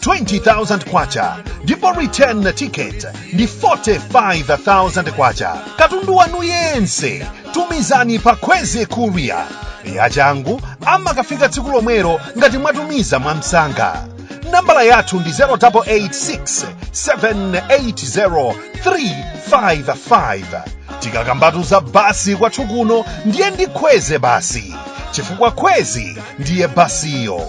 20,000 kwacha ndipo return ticket ndi 45,000 kwacha katundu wanu yense tumizani pa kwezy courier yachangu amakafika tsiku lomwelo ngati mwatumiza mwamsanga nambala yathu ndi 0886 780 355 tikakambatu za basi kwathu kuno ndiye ndi kwezy basi chifukwa kwezy ndiye basiyo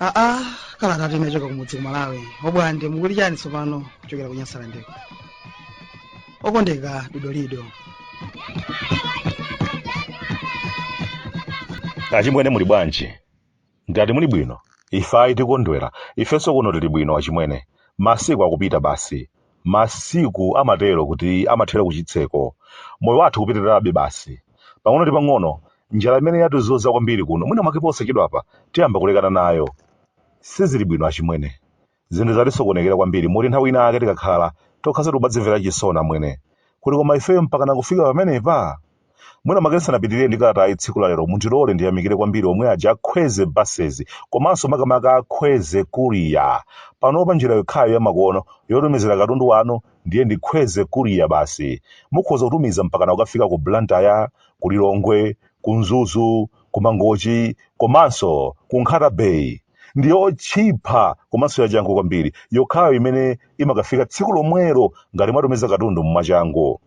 aa kalatatu inachoka kumudzi ku malawi obwande mukuti chani tsopano kuchokera ku nyasalandeko okondeka dodolido achimwene muli bwanji Ngati muli bwino, ife ayi tikondwera, ifenso kuno tili bwino achimwene. Masiku akupita basi. Masiku amatero kuti amathera kuchitseko. Moyo wathu ukupitirirabe basi. Pang'ono ndi pang'ono, njala imene yatizunza kwambiri kuno mwina mwake posachedwapa tiyamba kulekana nayo. Sizili bwino achimwene. Zinthu zatisokonekera kwambiri moti nthawi inayake tikakhala tokhaso tikumadzimvera chisoni amwene. Kuti koma ifeyo mpakana kufika pamenepa? Mwina mwake ndisanapitirire ndi kalatayi tsiku la lero mundilole ndiyamikire kwambiri omwe aja a Kwezy buses komanso makamaka a Kwezy courier. Panopa njira yokhayo yamakono yotumizira katundu wanu ndiye ndi Kwezy courier basi. Mukhoza kutumiza mpakana kukafika ku Blantyre, ku Lilongwe, ku Mzuzu, ku Mangochi komanso ku Nkhata Bay. ndi yotchipa komanso yachangu kwambiri yokhayo imene imakafika tsiku lomwelo ngati mwatumiza katundu mwachangu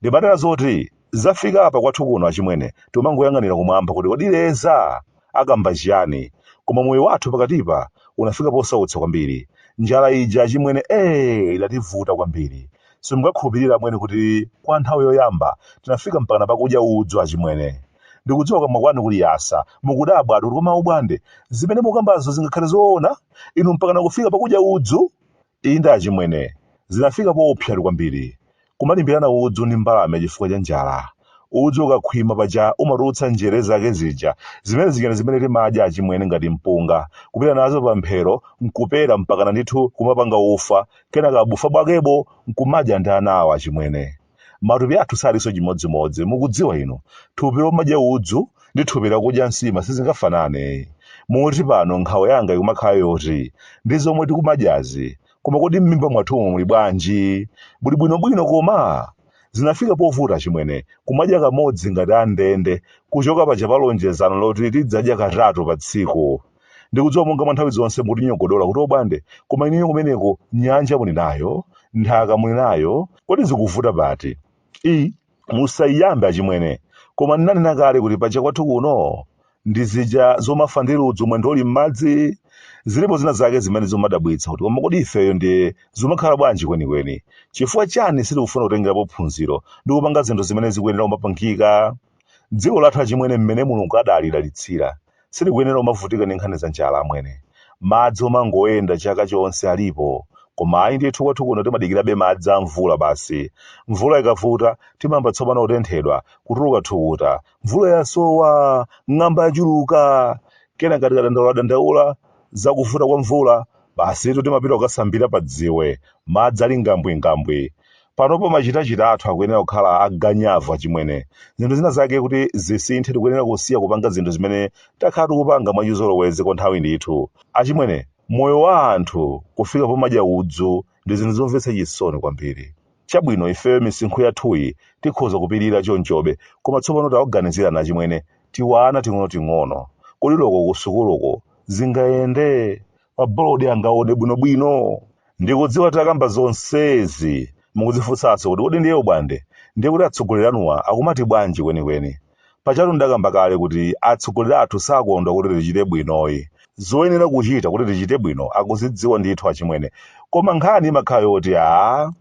ndimatera zoti zafika apa kwathu kuno achimwene timangoyang'anira kumwamba kuti kodi leza akamba chiyani koma moyo wathu pakatipa unafika posautsa kwambiri njala ija achimwene ee idativuta kwambiri simungakhulupirira amwene kuti kwa nthawi yoyamba tinafika mpakana pakudya udzu achimwene ndikudziwa kukamwa kwanu kuli yasa mukudabwa ati kuti koma obwande zimene mukambazo zingakhale zoona inu mpakana kufika pakudya udzu inde achimwene zinafika poopsatu kwambiri kumalimbirana udzu ndi mbalame chifukwa cha njala udzu ukakhwima paja umatulutsa njere zake zija zimene zija ndi zimene timadya achimwene ngati mpunga kupita nazo pamphero nkupera mpakana ndithu kumapanga ufa kenaka bufa bwakebo nkumadya ndi anawa achimwene Matupi athu salinso chimodzimodzi. Mukudziwa inu, thupi lomadya udzu ndi thupi lakudya nsima sizingafanane. Moti pano nkhawa yanga ikumakhala yoti, ndi zomwe tikumadyazi, koma kodi mmimba mwathumu muli bwanji? Muli bwinobwino koma? Zinafika povuta achimwene, kumadya kamodzi ngati a ndende, kuchoka paja pa lonjezano loti tidzadya katatu pa tsiku. ndikudziwa monga mwa nthawi zonse mutinyogodola kuti obwande koma inuyo kumeneko nyanja muli nayo nthaka muli nayo kodi zikuvuta pati i musayiyambe achimwene koma ndinanena kale kuti paja kwathu kuno ndi zija zomafa ndi ludzu mwendo uli m'madzi zilipo zina zake zimene zomadabwitsa kuti koma kodi ifeyo ndiye zimakhala bwanji kwenikweni chifukwa chani sitikufuna kutengerapo phunziro ndi kupanga zinthu zimene zikuyenera kumapangika Dziko lathu achimwene mmene Mulungu adalidalitsira sitikuyenera kumavutika ndi nkhani za njala amwene. Madzi omangoyenda chaka chonse alipo koma ayi ndithu kwathu kuno timadikirabe madzi a mvula basi. Mvula ikavuta timayamba tsopano kutenthedwa, kutuluka thukuta. Mvula yasowa! Ng'amba yachuluka! Kenaka tikadandauladandaula za kuvuta kwa mvula, basitu timapita kukasambira padziwe. Madzi ali ngambwingambwi. panopo machitachita athu akuyenera kukhala aganyavu achimwene zinthu zina zake kuti zisinthe tikuyenera kusiya kupanga zinthu zimene takhala tikupanga mwachizolowezi kwa nthawi ndithu achimwene moyo wa anthu kufika pomadya udzu ndi zinthu zomvetsa chisoni kwambiri chabwino ifeyo misinkhu yathuyi tikhoza kupirira chonchobe koma tsopano tawaganizirani achimwene tiwana ting'onoting'ono kodi loko kusukuluko zingayende pa bolodi angaone bwinobwino ndikudziwa takamba zonsezi mukudzifunsanso kuti kodi ndiye ubwande ndiye kuti atsogoleri anuwa akumati bwanji kwenikweni pajatu ndakamba kale kuti atsogoleri athu sakondwa kuti tichite bwinoyi zoyenera kuchita kuti tichite bwino akuzidziwa ndithu achimwene koma nkhani imakhala yoti a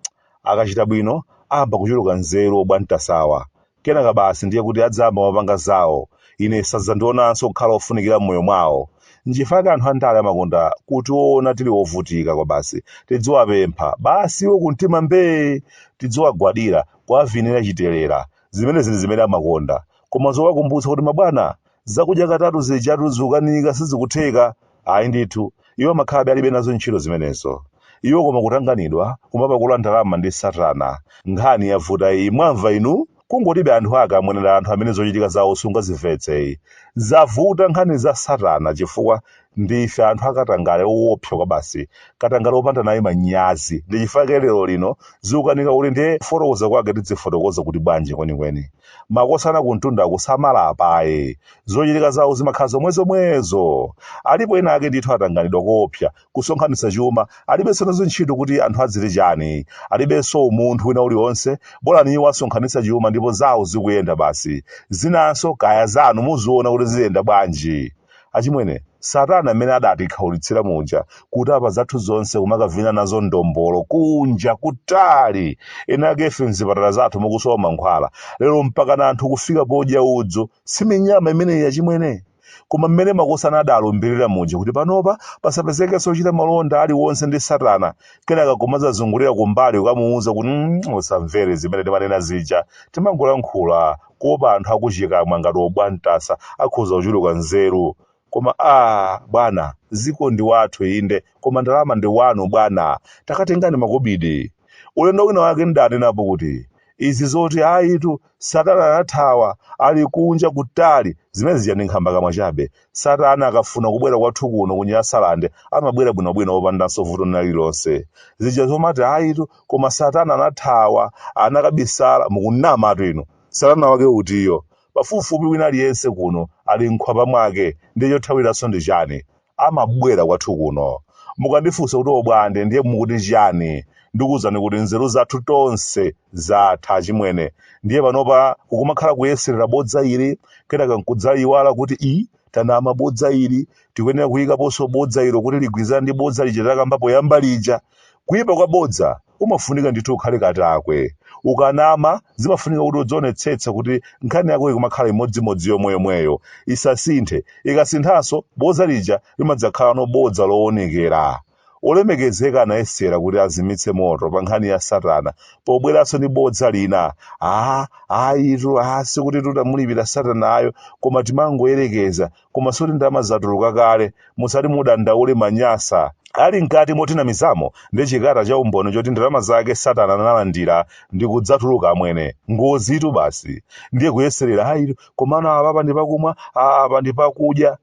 akachita bwino ayamba kuchuluka nzeru obwantasawa Kenaka basi ndiye kuti adzayamba kumapanga zawo, ine sadzandionanso kukhala wofunikira m'moyo mwawo. Nchifukwa anthu andale amakonda kutiona tili ovutika kwabasi. Tidziwapempha, basi iwo kumtima mbee! Tidziwagwadira, kuwavinira chitelera. Zimenezi ndi zimene amakonda. Koma zowakumbutsa kuti mabwana, zakudya katatu zijatu zikukanika sizikutheka. Ayi ndithu, iwo amakhalabe alibe nazo ntchito zimenezo. Iwo koma kutanganidwa, kumapakula ndalama ndi Satana. Nkhani yavuta iyi, mwamva inu? Kungotibe anthu ake amwene eda anthu amene zochitika zawo sungazimvetseyi. Zavuta nkhani za Satana chifukwa ndi ife anthu akatangale owopsa kwabasi, katangale opanda naye manyazi. Ndi chifukwa lero lino zikukanika kuti ndiye kufotokoza kwake tidzifotokoza kuti bwanji kwenikweni. Makosana kumtundaku samalapa ayi. zochitika zawo zimakhala zomwezomwezo alipo ena ake ndithu atanganidwa koopsa kusonkhanitsa chuma alibenso nazo ntchito kuti anthu adziti chani alibenso umunthu wina uliwonse bola iwo asonkhanitsa chuma ndipo zawo zikuyenda basi zinanso kaya zanu muziona kuti ziyenda bwanji achimwene satana amene adatikhaulitsira muja kuti apa zathu zonse kumakavina nazo ndombolo kunja kutali ena akefe mzipatala zathu mukusowa mankhwala lero mpakana anthu kufika podya udzu Si minyama imeneyi achimwene? Koma mmene makosana adalumbirira muja kuti panopa pasapezekenso ochita malonda aliwonse ndi satana, kenaka kumadzazungulira kumbali kukamuuza kuti mm, usamvere zimene timanena zija, timangolankhula kuopa anthu akuchikamwa ngati obwantasa akhoza kuchuluka nzeru. Koma aah bwana dziko ndi wathu inde koma ndalama ndi wanu bwana takatengani makobidi ulendo wina wake ndidanenapo kuti izi zoti ayitu satana anathawa ali kunja kutali zimene zija ndi nkhambakamwa chabe satana akafuna kubwera kwathu kuno ku nyasalande amabwera bwinobwino opandanso vuto lina lililonse zija zomati ayitu koma satana anathawa anakabisala mukunamatu inu satana wake utiyo Pafupifupi wina aliyense kuno ali m'khwapa mwake, ndiye chothawiranso ndi chani? Amabwera kwathu kuno. Mukandifunsa kuti obwande ndiye mukuti chiyani? Ndikuuzani kuti nzeru zathu tonse zatha achimwene. Ndiye panopa kukumakhala kuyeserera bodza ili, kenaka nkudzaiwala kuti ii, tanama bodza ili, tikuyenera kuikaponso bodza ilo kuti ligwirizane ndi bodza lija takamba poyamba lija. Kuipa kwa bodza umafunika ndithu ukhale katakwe ukanama zimafunika kuti udzionetsetsa kuti nkhani yako ikumakhala imodzimodzi yomweyomweyo isasinthe ikasinthanso bodza lija limadzakhalano bodza lowonekera olemekezeka anayesera kuti azimitse moto pa nkhani ya satana pobweranso ndi bodza lina a ayitu a sikuti titamulipira satanayo koma timangoyerekeza koma zoti ndalama zatuluka kale musati mudandaule a manyasa ali mkati motinamizamo ndi chikata cha umboni choti ndalama zake satana analandira nkudzatuluka amwene ngozitu basi ndiye kuyeserera ayitu komano apa ndi pakumwa aa, apa ndi pakudya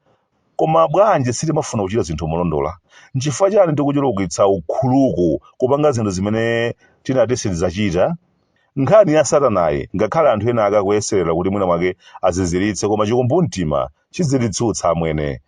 koma bwanji sitimafuna kuchita zinthu molondola nchifukwa chani tikuchulukitsa ukhuluku kupanga zinthu zimene tinati sitidzachita Nkhani ya Satanayi, ngakhale anthu ena ake akuyeserera kuti mwina mwake aziziritse, koma chikumbumtima chidzitsutsa amwene.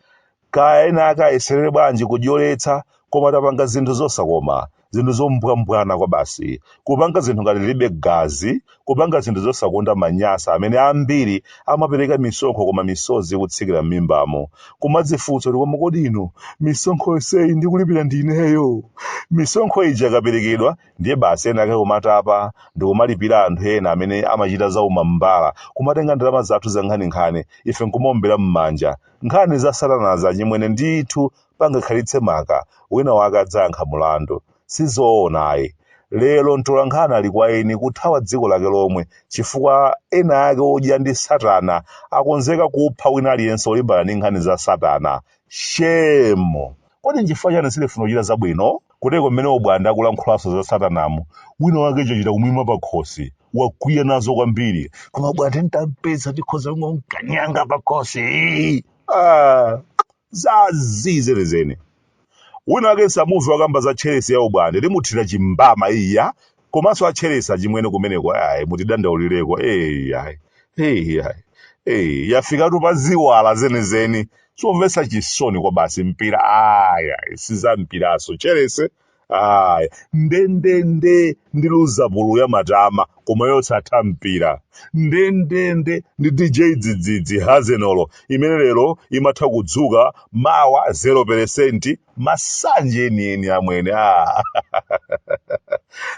Kaya ena ake ayeserere bwanji kudyoletsa, koma tapanga zinthu zosakoma, zinthu zombwambwana kwabasi, kupanga zinthu ngati tilibe gazi, kupanga zinthu zosakonda manyasa amene ambiri amapereka misonkho koma misozi ikutsikira m'mimbamo, kumadzifunsa kuti koma kodi inu, misonkho yonseyi ndikulipira ndi ineyo? Misonkho ija ikaperekedwa ndiye basi ena ake kumatapa ndikumalipira anthu ena amene amachita zaumambala kumatenga ndalama zathu za nkhaninkhani ife nkumaombera m'manja nkhani za satanazi achimwene ndithu pangakhalitse maka wina wake adzayankha mulandu sizoona ayi lero mtolankhani ali kwa eni kuthawa dziko lake lomwe chifukwa ena ake odya ndi satana akonzeka kupha wina aliyense olimbana ndi nkhani za satana shemo Kodi nchifukwa chani sitifuna kuchita zabwino? Kuteroko mmene obwande akulankhulanso za satanamu, wina wake chachita kumuimira pakhosi, wakwiya nazo kwambiri. Koma bwande nditampeza ndikhoza kungomkanyanga pakhosi. Ah, za zii zenizeni. Wina wake nsamumve wakamba za Chelsea ya ubwande, ndimuthira chimbama iya, komanso a Chelsea chimwene kumeneku ayi mutidandaulireko eyi ayi eyi ayi eyi yafikatu pa ziwala zenizeni chomvetsa chisoni kwabasi mpira aya si zampiranso Chelsea aya ndendende ndi Luzapulu yamatama koma yosatha mpira ndendende ndi dj dzidzidzi hazenolo imene lero imatha kudzuka mawa 0 peresenti masanje enieni amwene ah.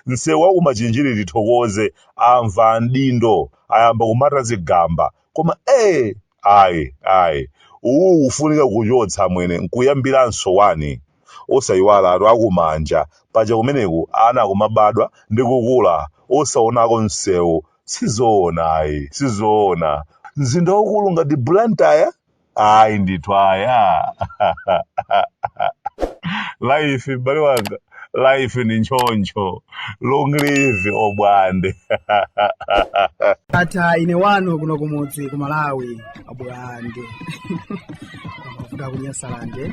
msewu wa kumachinjiri tithokoze amva adindo ayamba kumata zigamba koma ee ayi ayi uwu kufunika kuchotsa amwene nkuyambiranso wani osayiwalatu akumanja paja kumeneku ana akumabadwa ndi kukula osaonako msewu sizoona ayi sizoona mzinda waukulu ngati blantyre ayi ndithu aya life m'bale wanga life ndi nchoncho long live obwande tata ine wanu kuno kumudzi ku malawi abulande kuda kunyasalande